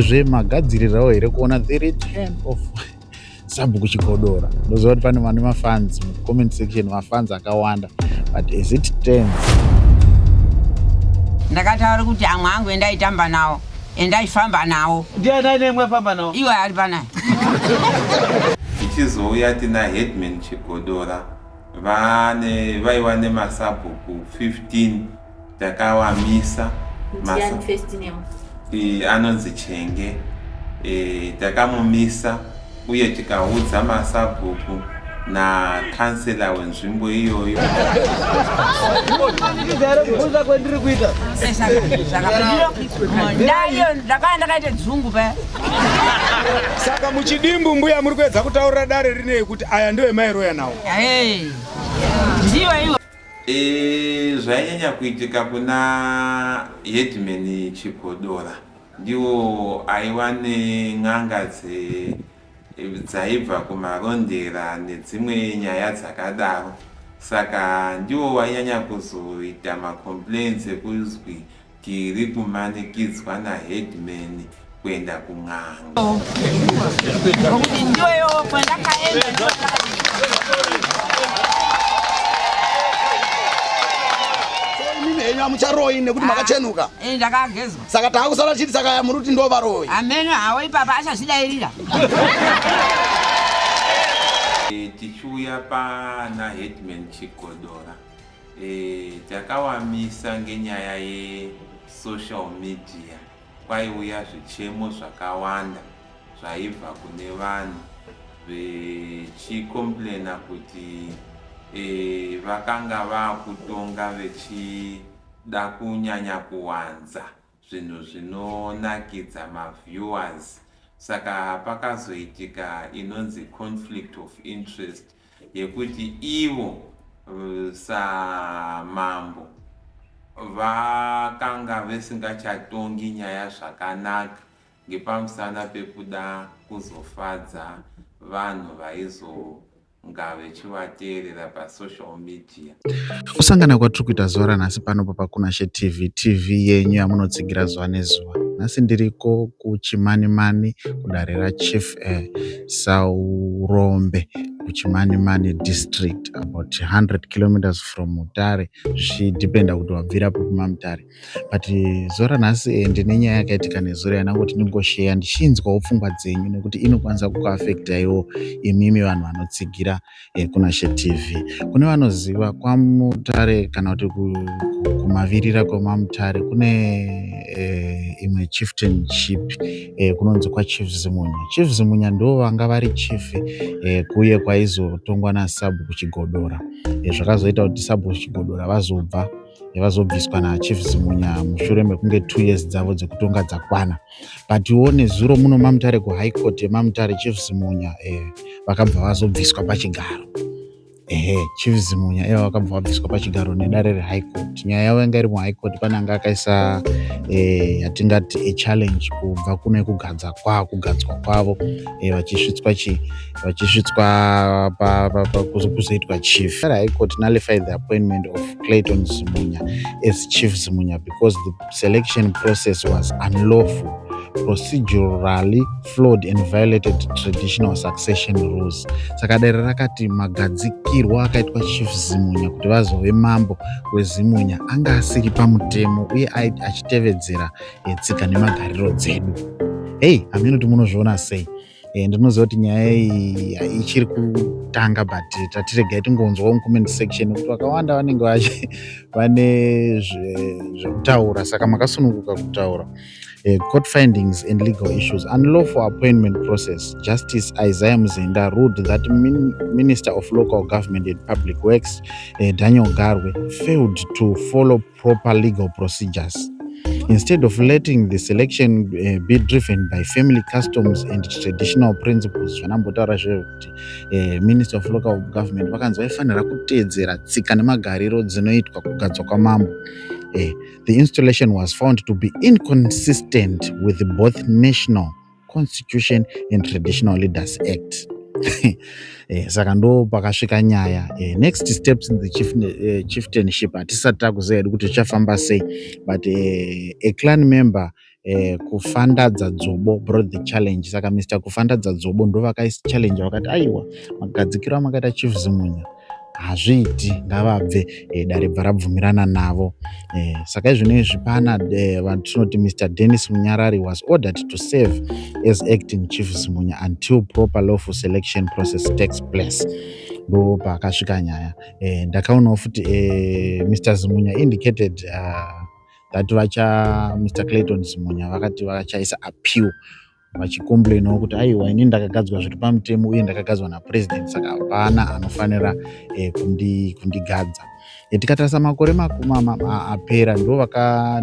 uyezve magadzirirawo here kuona the return of sabhuku chigodora ndoziva kuti pane vane mafans mucomment section mafans akawanda but as it stands ndakataura kuti amwe angu endaitamba nawo endaifamba nawo ndianainenwafamba nawo iwe ari panaye tichizouya tina headman chigodora vane vaiva nemasabhuku 15 takawamisa anonzi chenge e, takamumisa uye tikaudza masabhuku nakansela wenzvimbo iyoyo ndakaita dzungu paya saka muchidimbu mbuya muri kuedza kutaurira dare rinei kuti aya ndiwo emairoya nawo ndiwo iwo E, zvainyanya kuitika kuna headman chigodora ndiwo aiva nen'anga dze dzaibva kumarondera nedzimwe nyaya dzakadaro saka ndiwo vainyanya kuzoita macomplains ekuzwi Tiri kumanikidzwa naHeadman kuenda kun'anga. henyu amucharoyi nekuti ah, makachenuka eh, ndakagezwa saka taakusara chiti saka muri kuti ndovaroyi ameno hawo ipapa achazvidairira tichiuya pana headman chigodora Eh, takawamisa ngenyaya yesocial media kwaiuya zvichemo zvakawanda zvaibva kune vanhu vechicomplaina kuti e, vakanga vakutonga vechida kunyanya kuwanza zvinhu zvinonakidza maviewers saka pakazoitika inonzi conflict of interest yekuti ivo eh, samambo vakanga vesingachatongi nyaya zvakanaka ngepamusana pekuda kuzofadza vanhu vaizo ngave chivateerera pasocial media kusangana kwatiri kuita zuva ranhasi pano papakunashe tv tv yenyu yamunotsigira zuva nezuva nhasi ndiriko kuchimanimani kudare rachief eh, saurombe kuchimanimani district about 100 kilometers from mutare zvichidependa kuti wabvira pekuma mutare but eh, zuva ranhasi eh, ndine nyaya yakaitika nezuro yanangoti ndingosheya ndichinzwawo pfungwa dzenyu nekuti inokwanisa kukuafektaiwo imimi vanhu vanotsigira eh, kunashe tv kune vanoziva kwamutare kana kuti kumavirira kwemamutare kune imwe chieftainship eh, kunonzi kwachief zimunya chief zimunya ndo vanga vari chief eh, kuye kwaizotongwa nasabu kuchigodora eh, zvakazoita kuti sabu kuchigodora vazobva yavazobviswa nachief zimunya mushure mekunge two years dzavo dzekutonga dzakwana but wo nezuro muno mamutare kuhigh court yemamutare chief zimunya eh, vakabva eh, vazobviswa pachigaro ehe eh, chief zimunya iva eh, vakabva vabviswa pachigaro nedare rehigh court nyaya yavo yanga iri muhigh court pane anga akaisa eh, yatingati eh, echallenge kubva kune kugadza kwa kugadzwa kwavo eh, vachisvitswa chii vachisvitswa kuzoitwa chief high court nullified the appointment of clayton zimunya as chief zimunya because the selection process was unlawful procedurally flawed and violated traditional succession rules saka dare rakati magadzikirwa akaitwa chief zimunya kuti vazove mambo wezimunya anga asiri pamutemo uye achitevedzera eh, tsika nemagariro dzedu hei hameno kuti munozviona sei Eh, ndinoziva kuti nyaya iyi ichiri kutanga but tatiregai tingonzwa comment section kuti vakawanda vanenge vane zvekutaura saka makasununguka kutaura eh, court findings and legal issues unlawful appointment process justice isaiah muzinda ruled that minister of local government and public works eh, daniel garwe failed to follow proper legal procedures instead of letting the selection uh, be driven by family customs and traditional principles zvanambotaura zvoyo kuti uh, minister of local government vakanzi vaifanira kuteedzera tsika nemagariro dzinoitwa kugadzwa kwamambo uh, the installation was found to be inconsistent with both national Constitution and Traditional Leaders Act. eh, saka ndo pakasvika nyaya eh, next steps in the chief, eh, chieftainship hatisati takuziva hedu kuti zvichafamba sei but eh, a clan member eh, kufandadza dzobo brought the challenge saka mr kufandadza dzobo ndovakaisa challenge vakati aiwa magadzikiro amakaita chief zimunya hazviiti ngavabve e, dare bva rabvumirana navo e, saka izvinezvi pana e, vanhu tinoti mr dennis munyarari was ordered to serve as acting chief simunya until proper lawful selection process takes place ndo paakasvika nyaya e, ndakaonawo futi e, mr zimunya indicated uh, that vacha mr clayton zimunya vakati vachaisa appeal vachicomplainawo kuti aiwa ini ndakagadzwa zviri pamutemo uye ndakagadzwa napresident saka hapana anofanira eh, kundi, kundigadza eh, tikatarisa makore apera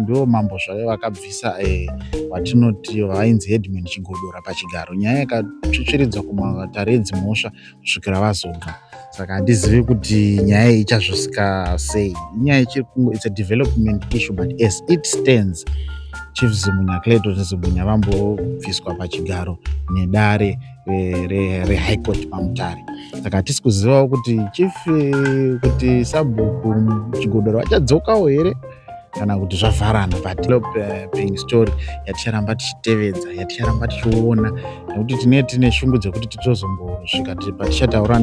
ndo mambo zvave vakabvisa eh, vatinoti vainzi headman chigodora pachigaro nyaya yakatsvitsviridzwa kumatare edzimhosva kusvikira vazonga saka handizive kuti nyaya iyi ichazvisika sei inyaya ichiri kunge its a development issue but as it stands chief zimunya clayton zimunya vambobviswa pachigaro nedare rehigh court pamutare saka hatisi kuzivawo kuti chief eh, kuti sabhuku chigodoro vachadzokawo here kana kuti zvavharana but loping eh, story yaticharamba tichitevedza yaticharamba tichiona nekuti tinee tine shungu dzekuti titozombosvika tiri patichataura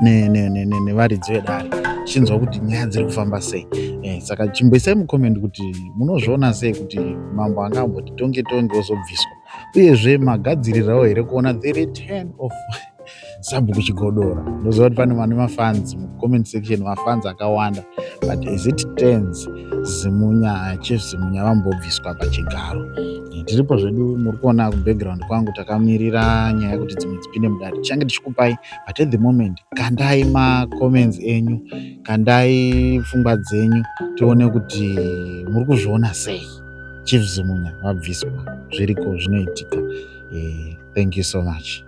nevaridzi vedare tichinzwa kuti nyaya dziri kufamba sei eh, saka chimboisai mucomment kuti munozviona sei kuti mambo anga amboti tonge tonge ozobviswa uyezve magadzirirawo here kuona the return of sabhuku chigodora ndoziva kuti pane vane mafans mucomment section mafans akawanda but as it turns zimunya chief zimunya vambobviswa pachigaro tiripo zvedu muri kuona kubackground kwangu takamirira nyaya yekuti dzimwe dzipinde mudare tichange tichikupai but at the moment kandai macomments enyu kandai pfungwa dzenyu tione kuti muri kuzviona sei chief zimunya vabviswa zviriko zvinoitika eh, thank you so much